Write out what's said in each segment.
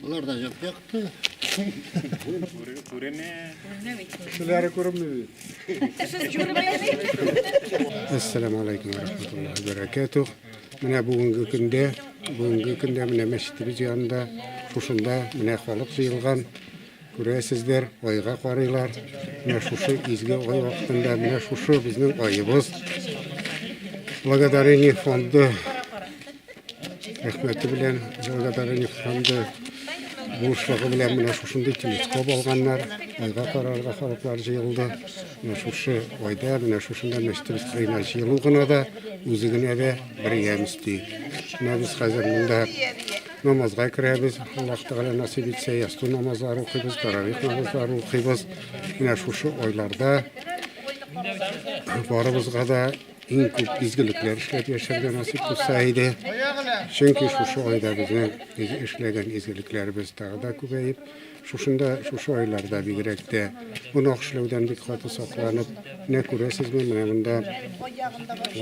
Болар да як якты. Күренә. Кешеләре күренми бит. Ассаламу алейкум ва рахматуллахи ва баракатух. Менә бүгенге көндә, бүгенге көндә менә мәчетебез янында, шушында менә халык җыелган. Күрәсездер, айга карыйлар. Менә шушы изге ай вакытында, менә шушы безнең аебыз. Благодарение фонды рәхмәте белән, благодарение фонды булышлыгы белән менә шушындый телескоп алганнар. Айга карарга халыклар җыелды. Менә шушы айда, менә шушында мәчетебез кырыена җыелу гына да, үзе генә дә бер ямь өсти. Менә без хәзер монда Намазга керәбез, Аллаһ Тәгалә насип итсә, ясту намазлары укыйбыз, таравих намазлары укыйбыз. Менә шушы айларда барыбызга да иң күп изгелекләр эшләп яшәргә насип булса иде. Чөнки шушы айда безнең эшләгән изгелекләребез тагы да күбәеп, Шушында, шушы айларда бигрәк тә гөнаһ эшләүдән бик каты сакланып, менә күрәсезме, менә монда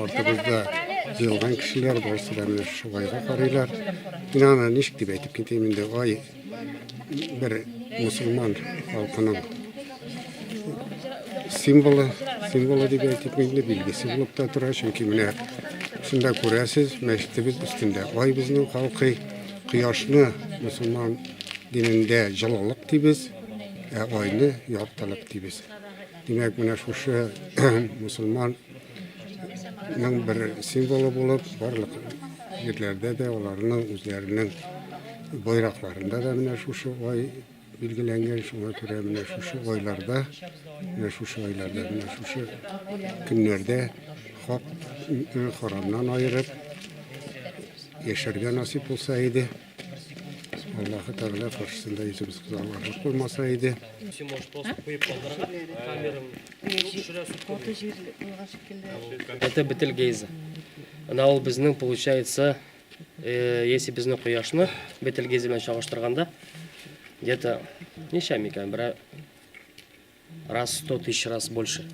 артыбызда җыелган кешеләр барысы да менә шушы айга карыйлар. Мин аны ничек дип әйтеп китәм инде, ай бер мусульман халкының символы, символы дип әйтеп инде билгесе булып та тора, чөнки менә шунда күрәсез, мәчетебез өстендә ай безнең халкый. Кояшны мусулман динендә җылылык дибез, ә айны яртылык дибез. Димәк, менә шушы мусулман ның бер символы булып, барлык җирләрдә дә аларның үзләренең байракларында да менә шушы ай Билгеләнгән шуңа күрә менә шушы айларда, менә шушы айларда, менә шушы көннәрдә хак харамнан аерып яшәргә насип булса иде. Аллаһы Тәгалә каршысында йөзебез кызармарлык булмаса иде. Син можешь просто куеп калдырырга, камерам Каты җир булган шикелле. Это Бетельгейзе. Ана ул безнең, получается, Если безнең кояшны Бетельгейзе белән чагыштырганда, где-то ничә микән, берәр раз 100 тысяч раз больше.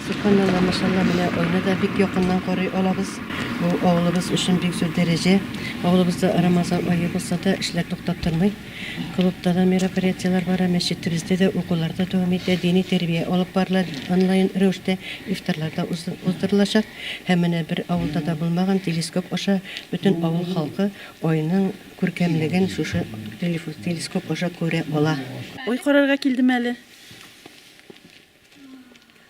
Субханалла, машалла, менә аны да бик якыннан карый алабыз. Бу авылыбыз өчен бик зур дәрәҗә. Авылыбызда Рамазан ае булса да, эшләр туктап тормый. Клубта да мероприятиеләр бара, мәчетебездә дә укулар да дәвам итә, дини тәрбия алып барыла, онлайн рәвештә ифтарлар да уздырылачак. Һәм менә бер авылда да булмаган телескоп аша бөтен авыл халкы Айның күркәмлеген шушы телескоп аша күрә ала. Ай карарга килдем әле.